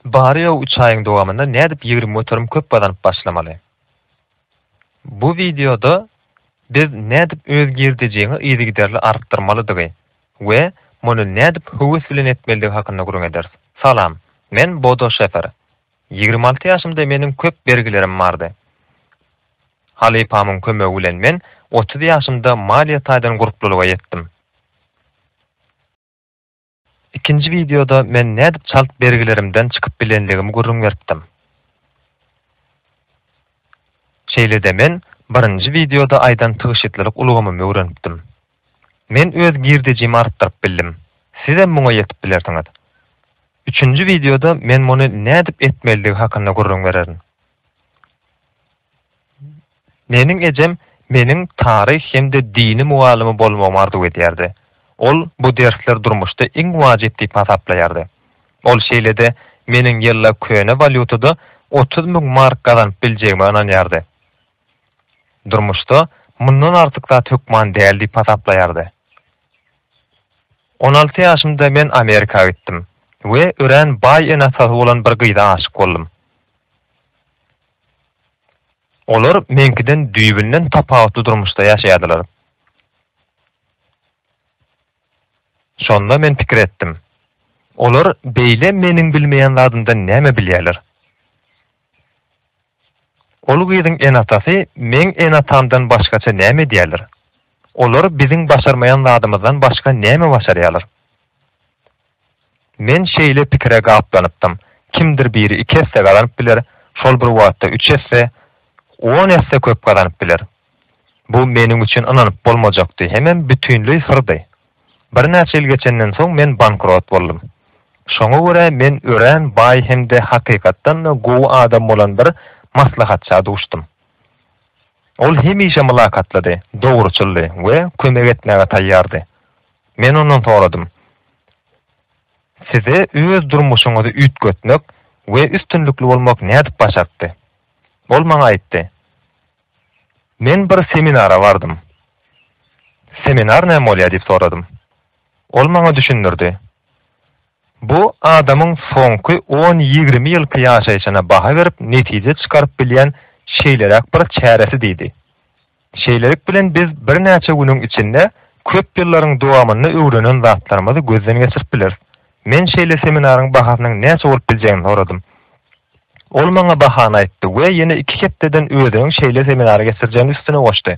Barýa üç aýyň dowamynda nädip ýigrimi göterim köp gazanyp başlamaly? Bu wideoda biz nädip öz girdejiňi yzygiderli artdyrmalydygy we muny nädip höwes bilen etmelidigi hakynda gürrüň ederis. Salam, men Bodo Şefer. Ýigrimi alty ýaşymda meniň köp bergilerim bardy. Halypamyň kömegi bilen men otuz ýaşymda maliýe taýdan gurplulyga ýetdim. Ikinji wideoda men nädip çalt bergilerimden çykyp bilenligimi gürrüň beripdim. Şeýle-de men birinji wideoda aýdan tygşytlylyk ulgamymy öwrenipdim. Men öz girdejimi artdyryp bildim. Sizem muňa ýetip bilersiňiz. Üçünji wideoda men muny nädip etmelidigi hakynda gürrüň bererin. Meniň ejem meniň taryh hem-de dini mugallymy bolmagymy arzuw edýärdi. Ol bu dersler durmuşda iň wajyp diýip hasaplaýardy. Ol şeýle-de meniň ýylla köne walýutada otuz müň mark gazanyp biljegime ynanýardy. Durmuşda mundan artyk zat hökman däl diýip hasaplaýardy. On alty ýaşymda men Amerika gitdim we örän baý ene-atasy bolan bir gyza aşyk boldum. Olar meňkiden düýbünden tapawutly durmuşda ýaşaýardylar. Şonda men pikir etdim, Olar beýle meniň bilmeýän zadymdan näme bilýärler? Ol gyzyň ene-atasy meň ene-atamdan başgaça näme edýärler? Olar biziň başarmaýan zadymyzdan başga näme başarýarlar? Men şeýle pikire gaplanypdym, kimdir biri iki esse gazanyp biler, şol bir wagtda üç esse, on esse köp gazanyp biler. Bu meniň üçin ynanyp bolmajakdy, hemem bütinleý syrdy. Birnäçe ýyl geçenden soň men bankrot boldum. Şoňa görä men örän baý hem-de hakykatdan-da gowy adam bolan bir maslahatça duşdum. Ol hemişe mylakatlydy, dogruçyldy we kömek etmäge taýýardy. Men ondan soradym, Size öz durmuşyňyzy üýtgetmek we üstünlikli bolmak nädip başartdy? Ol maňa aýtdy, Men bir seminara bardym. Seminar näme bolýar diýip soradym. Ol maňa düşündirdi, Bu adamyň soňky on-ýigrimi ýylky ýaşaýşyna baha berip netije çykaryp bilýän şeýleräk bir çäresi diýdi. Şeýlelik bilen biz birnäçe günüň içinde köp ýyllaryň dowamynda öwrenen zatlarymyzy gözden geçirip bileris. Men şeýle seminaryň bahasynyň näçe bolup biljegini soradym. Ol maňa bahany aýtdy we ýene iki hepdeden özüniň şeýle seminary geçirjegini üstüne goşdy.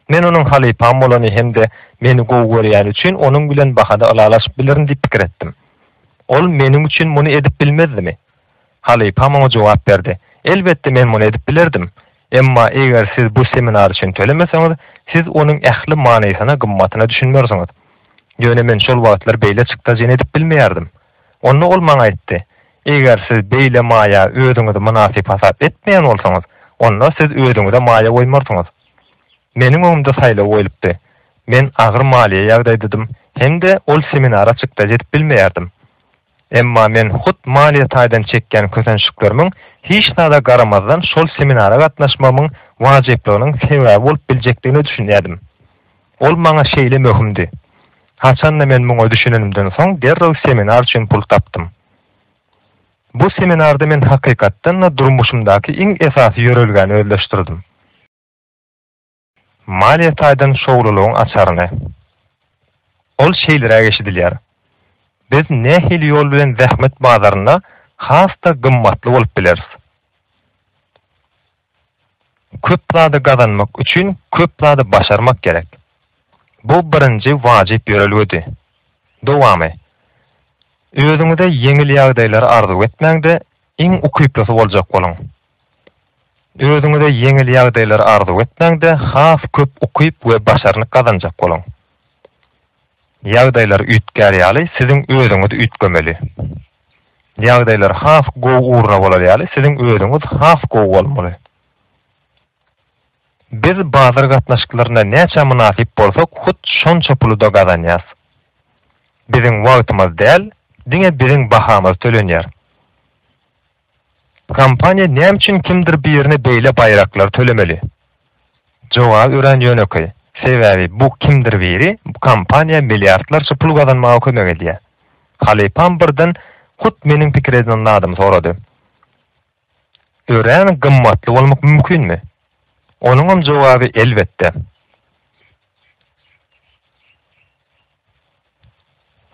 Men onuň halypam bolany hem-de meni gowy görýäni üçin onuň bilen bahada ylalaşyp bilerin diýip pikir etdim. Ol meniň üçin muny edip bilmezdimi? Halypa muňa jogap berdi, Elbetde men muny edip bilerdim. Emma eger siz bu seminar üçin tölemeseňiz, siz onuň ähli manysyna, gymmatyna düşünmersiňiz. Ýöne men şol wagtlar beýle çykdajyny edip bilmeýärdim. Onda ol maňa aýtdy, Eger siz beýle maýa özüňizi mynasyp hasap etmeýän bolsaňyz, onda siz özüňize maýa goýmarsyňyz. Meniň öňümde saýlaw goýlupdy. Men agyr maliýe ýagdaýdadym hem-de ol seminara çykdajy edip bilmeýärdim. Emma men hut maliýe taýdan çekýän kösençliklerimiň hiç zada garamazdan şol seminara gatnaşmagymyň wajyplygynyň sebäbi bolup biljekdigine düşünýärdim. Ol maňa şeýle möhümdi. Haçanda men muňa düşünenimden soň derrew seminar üçin pul tapdym. Bu seminarda men hakykatdan-da durmuşymdaky iň esasy ýörelgäni özleşdirdim. Maliýe taýdan şowlulygyň açaryny. Ol şeýleräk eşidilýär, Biz nähili ýol bilen zähmet bazarynda has-da gymmatly bolup bileris? Köp zady gazanmak üçin köp zady başarmak gerek. Bu birinji wajyp ýörelgedi. Dowamy. Özüňize ýeňil ýagdaýlary arzuw etmäň-de, iň ukyplysy boljak boluň. Özüňize ýeňil ýagdaýlary arzuw etmäň-de, has köp ukyp we başarnyk gazanjak boluň. Ýagdaýlar üýtgär ýaly, siziň özüňiz üýtgemeli. Ýagdaýlar has gowy ugruna bolar ýaly, siziň özüňiz has gowy bolmaly. Biz bazar gatnaşyklarynda näçä mynasyp bolsak, hut şonça puly-da gazanýarys. Biziň wagtymyz däl, diňe biziň bahamyz tölenýär. Kompaniýa näme üçin kimdir birine beýle baýraklary tölemeli? Jogaby örän ýönekeý. Sebäbi bu kimdir biri bu kompaniýa milliardlarça pul gazanmaga kömek edýär. Halypam birden hut meniň pikir eden zadymy sorady. Örän gymmatly bolmak mümkinmi? Onuňam jogaby elbetde.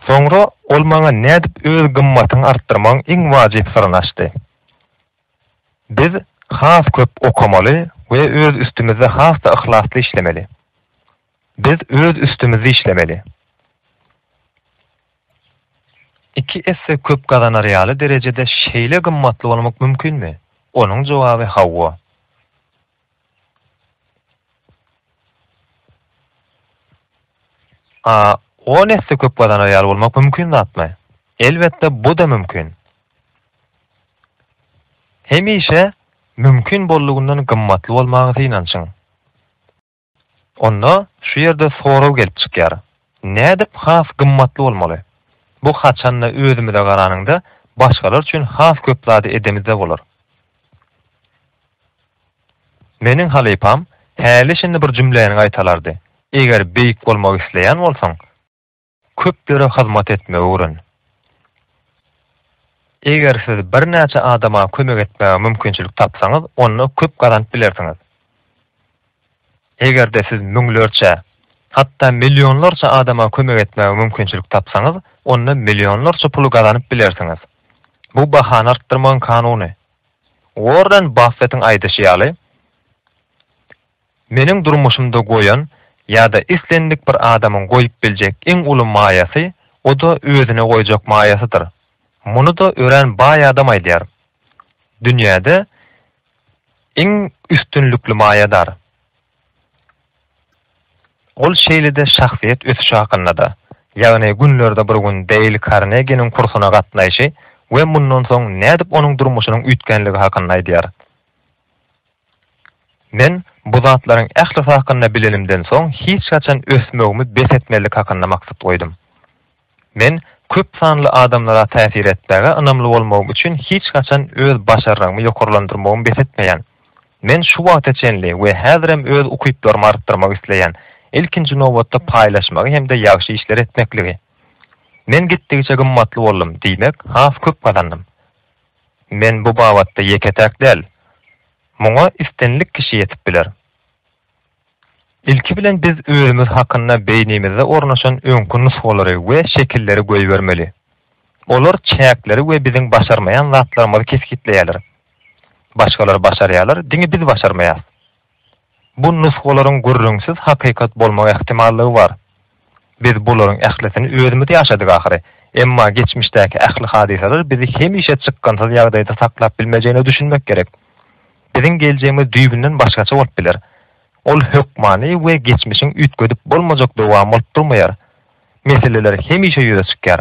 Soňra ol maňa nädip öz gymmatyňy artdyrmagyň iň wajyp syryny açdy. Biz has köp okamaly we öz üstümizde has-da yhlasly işlemeli. Biz öz üstümizde işlemeli. Iki esse köp gazanar ýaly derejede şeýle gymmatly bolmak mümkinmi? Onuň jogaby hawa. A on esse köp gazanar ýaly bolmak mümkin zatmy? Elbetde bu-da mümkin. Hemişe mümkin boldugyndan gymmatly bolmaga synanyşyň. Onda şu ýerde sorag gelip çykýar. Nädip has gymmatly bolmaly? Bu haçanda özümize garanyňda başgalar üçin has köp zady edemizde bolar. Meniň halypam häli-şindi bir jümläni gaýtalardy, Eger beýik bolmak isleýän bolsaň, köplere hyzmat etmegi öwren. Eger siz birnäçe adama kömek etmäge mümkinçilik tapsaňyz, onda köp gazanyp bilersiňiz. Eger-de siz müňlerçe, hatda millionlarça adama kömek etmäge mümkinçilik tapsaňyz, onda millionlarça puly gazanyp bilersiňiz. Bu bahany artdyrmagyň kanuny. Uorren Baffetiň aýdyşy ýaly, Meniň durmuşymda goýan ýa-da islendik bir adamyň goýup biljek iň uly maýasy, o-da özüne goýjak maýasydyr. Muny-da örän baý adam aýdýar. Dünýäde iň üstünlikli maýa dar. Ol şeýle-de şahsyýet ösüşi hakynda-da, ýagny günlerde bir gün Deýl Karneginiň kursuna gatnaýşy we mundan soň nädip onuň durmuşynyň üýtgänligi hakynda aýdýar. Men bu zatlaryň ählisi hakynda bilenimden soň hiç haçan ösmegimi bes etmezlik hakynda maksat goýdum. Men köp sanly adamlara täsir etmäge ynamly bolmagym üçin hiç haçan öz başarnygymy ýokarlandyrmagymy bes etmeýän. Men şu wagta çenli we häzirem öz ukyplarymy artdyrmak isleýän, ilkinji nobatda paýlaşmagy hem-de ýagşy işleri etmekligi. Men gitdigiçe gymmatly boldum, diýmek, has köp gazandym. Men bu babatda ýeke-täk däl. Muňa islendik kişi ýetip biler. Ilki bilen biz özümiz hakynda beýnimizde ornaşan öňki nusgalary we şekilleri goýbermeli. Olar çäkleri we biziň başarmaýan zatlarymyzy kesgitleýärler. Başgalar başarýarlar, diňe biz başarmaýas. Bu nusgalaryň gürrüňsiz hakykat bolmak ähtimallygy bar. Biz bularyň ählisini özümiz ýaşadyk ahyry. Emma geçmişdäki ähli hadysalar bizi hemişe çykgynsyz ýagdaýda saklap bilmejegine düşünmek gerek. Biziň geljegimiz düýbünden başgaça bolup biler. Ol hökmany we geçmişiň üýtgedip bolmajak dowamy bolup durmaýar. Meseleler hemişe ýüze çykýar.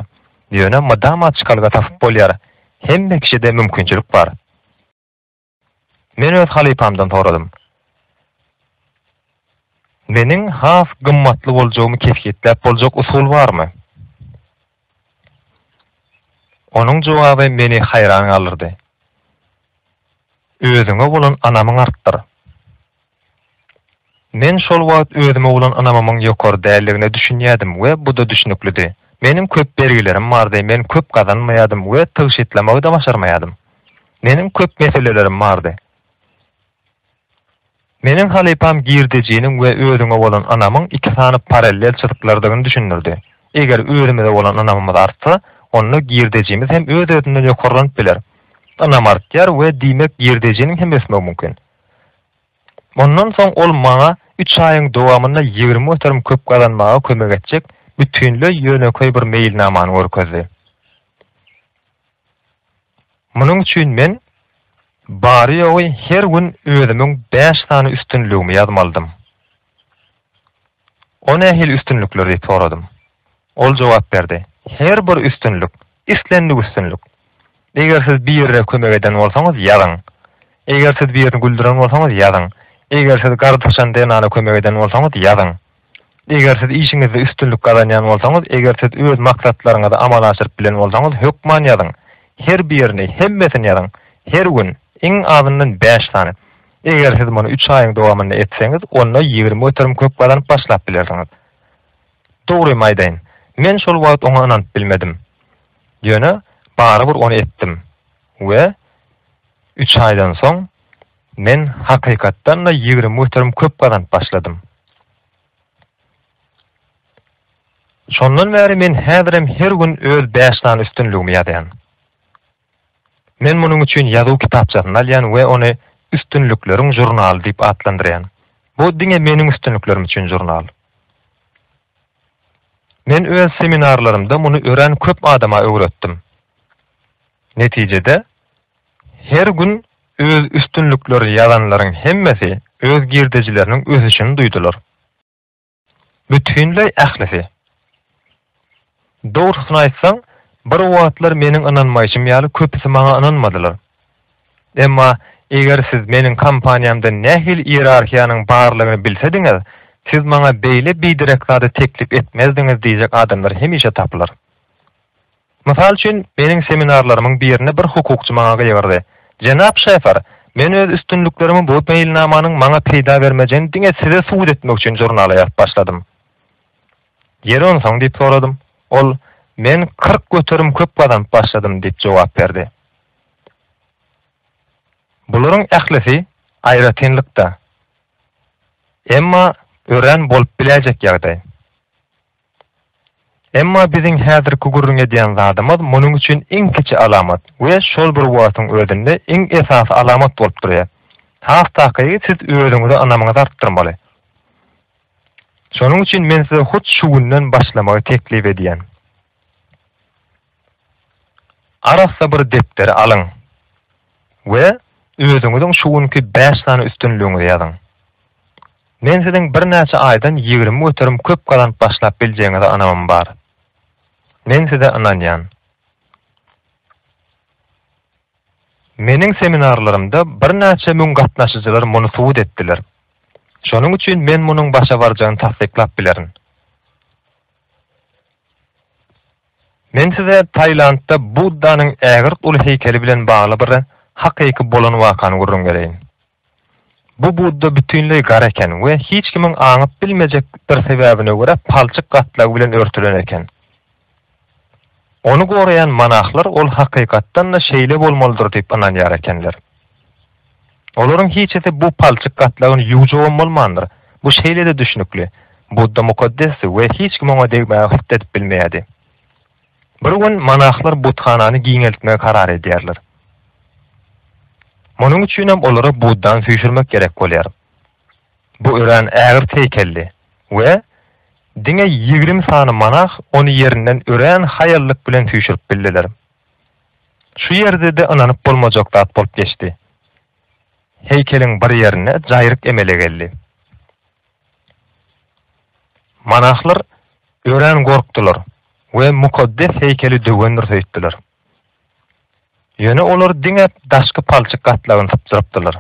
Ýöne mydama çykalga tapyp bolýar. Hemme kişide mümkinçilik bar. Men öz halypamdan soradym. Meniň has gymmatly boljagymy kesgitläp boljak usul barmy? Onuň jogaby meni haýran galdyrdy. Özüňe bolan anamyň artdyr. Men şol wagt özüme bolan ynamymyň ýokary däldigine düşünýärdim we bu-da düşnüklidi. Meniň köp bergilerim bardy, men köp gazanmaýardym we tygşytlamagy-da başarmaýardym. Meniň köp meselelerim bardy. Meniň halypam girdejiniň we özüňe bolan ynamyň iki sany parallel çyzyklardygyny düşündirdi. Eger özümize bolan ynamymyz artsa, onda girdejimiz hem öz-özünden ýokarlanyp biler. Ynam artýar we diýmek girdejiniň hem ösmegi mümkin. Mundan soň ol maňa üç aýyň dowamynda ýigrimi göterim köp gazanmaga kömek etjek bütinleý ýönekeý bir meýilnamany görkezdi. Munuň üçin men bary-ýogy her gün özümiň bäş sany üstünligimi ýazmalydym. O nähili üstünlikler diýip soradym. Ol jogap berdi, Her bir üstünlik, islendik üstünlik. Eger siz birine kömek eden bolsaňyz, ýazyň. Eger siz birini güldüren bolsaňyz, ýazyň. Eger siz gardaşan zenana kömek eden bolsaňyz, ýazyň. Eger siz işiňizde üstünlik gazanýan bolsaňyz, eger siz öz maksatlaryňyzy amala aşyryp bilen bolsaňyz, hökman ýazyň. Her birini, hemmesini ýazyň. Her gün, iň azyndan bäş sany. Eger siz muny üç aýyň dowamynda etseňiz, onda ýigrimi göterim köp gazanyp başlap bilersiňiz. Dogrymy aýdaýyn, men şol wagt oňa ynanyp bilmedim. Ýöne barybir ony etdim we üç aýdan soň men hakykatdan-da ýigrimi göterim köp gazanyp başladym. Şondan bäri men häzirem her gün öz bäş sany üstünligimi ýazýan. Men munuň üçin ýazuw kitapçasyny alýan we ony Üstünlikleriň žurnaly diýip atlandyrýan. Bu diňe meniň üstünliklerim üçin žurnal. Men öz seminarlarymda muny örän köp adama öwretdim. Netijede, her gün öz üstünlikleri ýazanlaryň hemmesi öz girdejileriniň ösüşini duýdular. Bütinleý ählisi. Dogrusyny aýtsaň, bir wagtlar meniň ynanmaýşym ýaly köpüsi maňa ynanmadylar. Emma eger siz meniň kompaniýamda nähili iýerarhiýanyň barlygyny bilsediňiz, siz maňa beýle biderek zady teklip etmezdiňiz diýjek adamlar hemişe tapylar. Mysal üçin, meniň seminarlarymyň birinde bir hukukçy maňa gygyrdy, Jenap Şefer, men öz üstünliklerimi bu meýilnamanyň maňa peýda bermejegini diňe size subut etmek üçin žurnala ýazyp başladym. Ýeri onsoň diýip soradym. Ol, Men kyrk göterim köp gazanyp başladym diýip jogap berdi. Bularyň ählisi aýratynlyk-da. Emma örän bolup biläýjek ýagdaý. Emma biziň häzirki gürrüň edýän zadymyz munuň üçin iň kiçi alamat we şol bir wagtyň özünde iň esasy alamat bolup durýar. Has takygy siz özüňize ynamyňyzy artdyrmaly. Şonuň üçin men size hut şu günden başlamagy teklip edýän. Arassa bir depderi alyň we özüňiziň şu günki bäş sany üstünligiňizi ýazyň. Men siziň birnäçe aýdan ýigrimi göterim köp gazanyp başlap biljegiňize ynamym bar. Men size ynanýan. Meniň seminarlarymda birnäçe müň gatnaşyjylar muny subut etdiler. Şonuň üçin men munuň başa barjagyny tassyklap bilerin. Men size Tailandda Buddanyň ägirt uly heýkeli bilen bagly bir hakyky bolan wakany gürrüň bereýin. Bu Budda bütinleý gara eken we hiç kimiň aňyp bilmejek bir sebäbine görä palçyk gatlagy bilen örtülen eken. Ony goraýan monahlar ol hakykatdan-da şeýle bolmalydyr diýip ynanýar ekenler. Olaryň hiçisi bu palçyk gatlagyny ýuwjagam bolmandyr. Bu şeýle-de düşnükli. Budda mukaddesdi we hiç kim oňa degmäge hyt edip bilmeýärdi. Bir gün monahlar buthanany giňeltmegi karar edýärler. Munuň üçinem olara Buddany süýşürmek gerek bolýar. Bu örän ägirt heýkeldi we diňe ýigrimi sany monah ony ýerinden örän haýallyk bilen süýşürip bildiler. Şu ýerde-de ynanyp bolmajak zat bolup geçdi. Heýkeliň bir ýerinde jaýryk emele geldi. Monahlar örän gorkdular we mukaddes heýkeli döwendir söýtdüler. Ýöne olar diňe daşky palçyk gatlagyny sypjyrypdylar.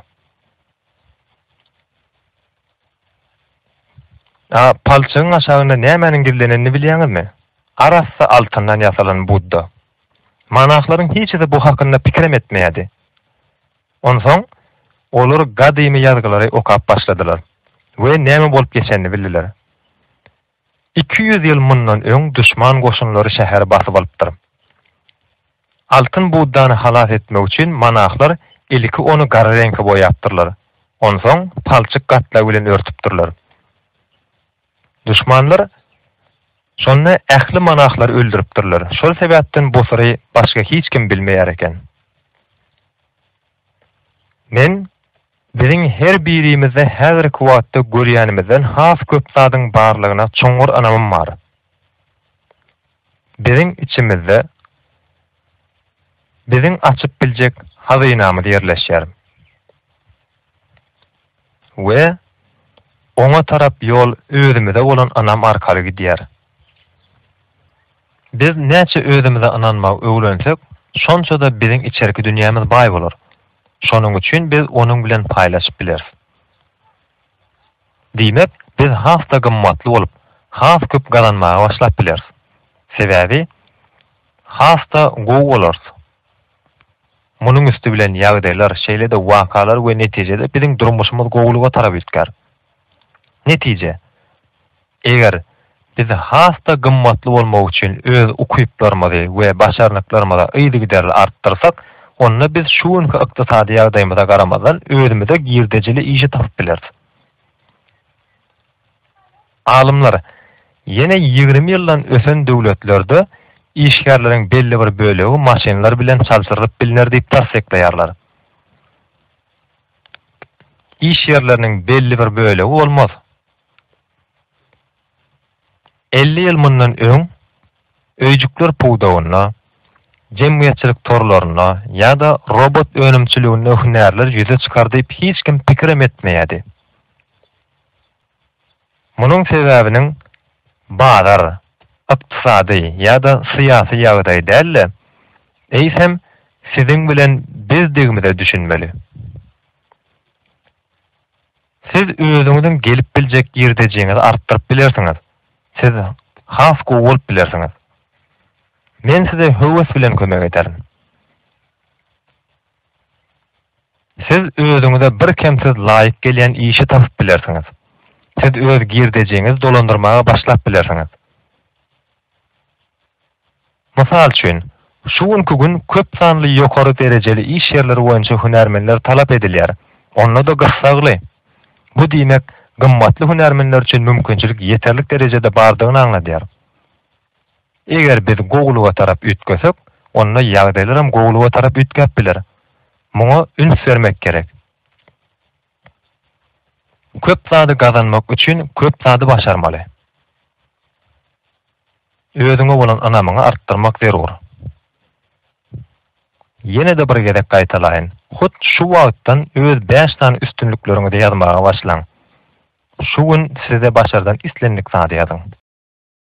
A palçygyň aşagynda nämäniň gizlenenini bilýäňizmi? Arassa altyndan ýasalan Budda. Monahlaryň hiçisi bu hakynda pikirem etmeýärdi. Onsoň olar gadymy ýazgylary okap başladylar we näme bolup geçenini bildiler. Iki ýüz ýyl mundan öň duşman goşunlary şäheri basyp alypdyr. Altyn Buddany halas etmek üçin monahlar ilki ony gara reňke boýapdyrlar, onsoň palçyk gatlagy bilen örtüpdirler. Duşmanlar şonda ähli monahlary öldüripdirler, şol sebäpden bu syry başga hiç kim bilmeýär eken. Men Biziň her birimizde häzirki wagtda görýänimizden has köp zadyň barlygyna çuňňur ynamym bar. Biziň içimizde biziň açyp biljek hazynamyz ýerleşýär we oňa tarap ýol özümize bolan ynam arkaly gidýär. Biz näçe özümize ynanmagy öwrensek, şonça-da biziň içerki dünýämiz baý bolar. Şonuň üçin biz onuň bilen paýlaşyp bileris. Diýmek, biz has-da gymmatly bolup, has köp gazanmaga başlap bileris. Sebäbi has-da gowy bolarys. Munuň üsti bilen ýagdaýlar, şeýle-de wakalar we netijede biziň durmuşymyz gowulyga tarap üýtgär. Netije, eger biz has-da gymmatly bolmak üçin öz ukyplarymyzy we başarnyklarymyzy yzygiderli artdyrsak, onda biz şu günki ykdysady ýagdaýymyza garamazdan özümize girdejili işi tapyp bileris. Alymlar ýene ýigrimi ýyldan ösen döwletlerde işgärleriň belli bir bölegi maşynlar bilen çalşyrylyp bilner diýip tassyklaýarlar. iş ýerleriniň belli bir bölegi bolmaz. Elli ýyl mundan öň öýjükler pudagynda, jemgyýetçilik torlarynda ýa-da robot önümçiliginde hünärler ýüze çykar diýip hiç kim pikirem etmeýärdi. Munuň sebäbiniň bazar, ykdysady ýa-da syýasy ýagdaý däl-de, eýsem siziň bilen bizdigimize düşünmeli. Siz özüňiziň gelip biljek girdejiňizi artdyryp bilersiňiz, siz has gowy bolup bilersiňiz. Men size höwes bilen kömek ederin. Siz özüňize bir kemsiz laýyk gelýän işi tapyp bilersiňiz. Siz öz girdejiňizi dolandyrmaga başlap bilersiňiz. Mysal üçin, şu günki gün köp sanly ýokary derejeli iş ýerleri boýunça hünärmenler talap edilýär, onda-da gyssagly. Bu diýmek, gymmatly hünärmenler üçin mümkinçilik ýeterlik derejede bardygyny aňladýar. Eger biz gowulyga tarap üýtgesek, onda ýagdaýlaram gowulyga tarap üýtgäp biler. Muňa üns bermek gerek. Köp zady gazanmak üçin köp zady başarmaly. Özüňe bolan ynamyňy artdyrmak zerur. Ýene-de bir gezek gaýtalaýyn, hut şu wagtdan öz bäş sany üstünlikleriňizi ýazmaga başlaň. Şu gün size başardan islendik zady ýazyň.